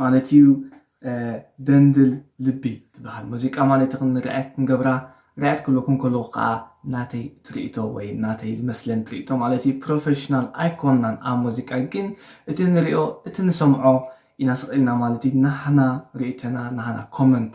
ማለት እዩ ደንድል ልቢ ትበሃል ሙዚቃ ማለት ይኹን ሪኣክት ክንገብራ ሪኣክት ክብለኩም ከለኹ ከዓ ናተይ ትርኢቶ ወይ ናተይ ዝመስለን ትርኢቶ ማለት እዩ ፕሮፌሽናል ኣይኮናን ኣብ ሙዚቃ ግን እቲ ንሪኦ እቲ ንሰምዖ ኢና ስቕ ኢልና ማለት እዩ ናህና ርእይቶና ናህና ኮመንት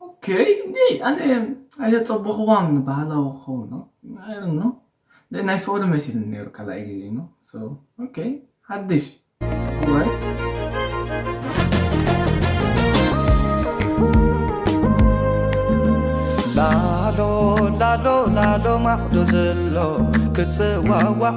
ኦኬይ እንዴ ኣነ ኣይተጸበኹዋን ባህላዊ ክኸውን ነው ኣይሮን ነው ናይ ፍቕሪ መሲሉ ነይሩ ካልኣይ ግዜ ነው ኦኬይ ሓድሽ ላሎ ላሎ ላሎ ማዕዶ ዘሎ ክፅዋዋዕ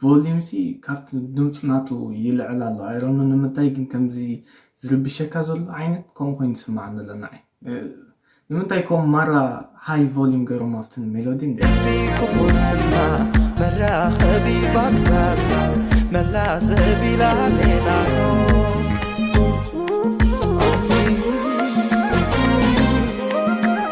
ቮሊም ሲ ካብቲ ድምፁ ናቱ ይልዕል ኣሎ ኣይሮኖ ንምንታይ ግን ከምዚ ዝርብሸካ ዘሎ ዓይነት ከምኡ ኮይኑ ይስማዕ ዘሎ ንዓይ ንምንታይ ከም ማራ ሃይ ቮሊም ገይሮም ኣብቲ ሜሎዲ እንደ ክኾነና መራኸቢ ባትካትና መላዘቢ ላሌላኖ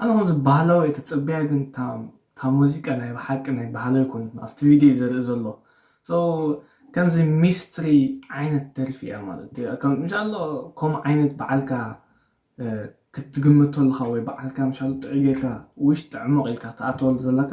ኣነ ከምዚ ባህላዊ እየ ትጽበያ ግን እታ ሙዚቃ ናይ ብሓቂ ናይ ባህላዊ ኣይኮነትን ኣብቲ ቪድዮ እዩ ዘርኢ ዘሎ ሶ ከምዚ ሚስትሪ ዓይነት ደርፊ እያ ማለት እዩ ከም እንሻላ ከምኡ ዓይነት በዓልካ ክትግምቶ ኣለካ ወይ በዓልካ ምሻሉ ጥዑይ ጌርካ ውሽጢ ዕሙቕ ኢልካ ትኣትወሉ ዘለካ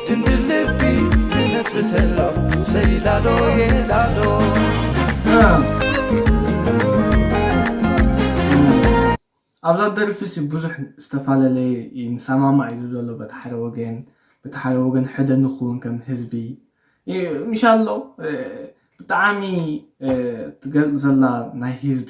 ድንግል ልቢ ትነትብተሎ ሰይ ላሎየ ላሎ ኣብዛ ደርፊ ሲ ብዙሕ ዝተፋለለየ እዩ ንሰማማዕ እዩ ዘሎ በቲ ሓደ ወገን በቲ ሓደ ወገን ሕደ ንኽውን ከም ህዝቢ ምሻ ኣሎ ብጣዕሚ ትገልፅ ዘላ ናይ ህዝቢ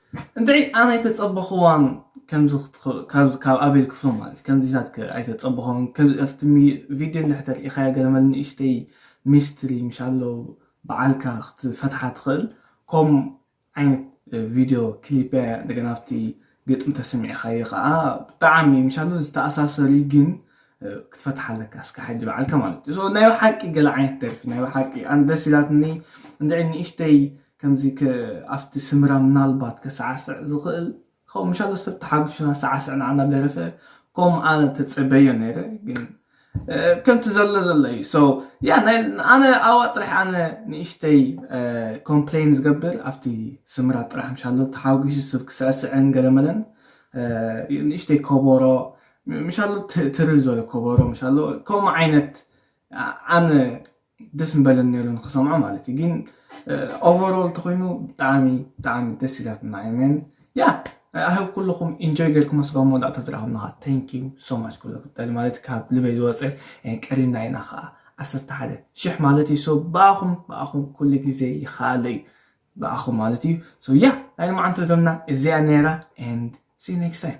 እንድዒ ኣነ ኣይተጸበኽዋን ከምዚ ክትከውን ካብ ኣቤል ክፍሎም ማለት ከምዚታት ከ ኣይተጸበኽዋን ከም ኣብቲ ቪድዮ እንድሕር ተሪኢኻያ ገለመል ንእሽተይ ሚስትሪ ምሻሎ በዓልካ ክትፈትሓ ትኽእል ከም ዓይነት ቪድዮ ክሊፕ እያ እንደገና ኣብቲ ግጥሚ ተሰሚዕኻዮ ከዓ ብጣዕሚ ምሻሉ ዝተኣሳሰሪ ግን ክትፈትሓ ኣለካ እስከ ሓጂ በዓልካ ማለት እዩ ናይ ብሓቂ ገለ ዓይነት ደርፊ ናይ ብሓቂ ኣንደስ ኢላትኒ እንድዒ ንእሽተይ ከምዚ ከ ኣብቲ ስምራ ምናልባት ከሳዕስዕ ዝክእል ክከውን ምሻሎ ሰብ ተሓጉሹ ናሳዓስዕ ናዓ ናደረፈ ኮም ኣነ ተጸበዮ ነይረ ግን ከምቲ ዘሎ ዘሎ እዩ so ያ ናይ ኣነ ኣዋ ጥራሕ ኣነ ንእሽተይ ኮምፕሌን ዝገብር ኣብቲ ስምራ ጥራሕ ምሻሎ ተሓጉሹ ሰብ ክስዕስዕን ገለመለን ንእሽተይ ኮቦሮ ምሻሎ ትርል ዝበለ ኮቦሮ ምሻሎ ከምኡ ዓይነት ኣነ ደስ ምበለኒ ነይሩ ንክሰምዖ ማለት እዩ ግን ኦቨሮል ተኮይኑ ብጣዕሚ ብጣዕሚ ደስ ኢላትና እየን ያ ኣህብ ኩልኹም ኢንጆይ ጌርኩም ስጋ መወዳእታ ዝረኣኹምና ታንክ ዩ ሶ ማች ኩሎ ጉዳሊ ማለት ካብ ልበይ ዝወፀ ቀሪብና ኢና ከዓ ዓሰርተ ሓደ ሽሕ ማለት እዩ ሶ ብኣኹም ብኣኹም ኩሉ ግዜ ይኸኣለ እዩ ብኣኹም ማለት እዩ ሶ ያ ናይ ልማዓንቲ ደምና እዚኣ ነይራ ኤንድ ሲ ኔክስት ታይም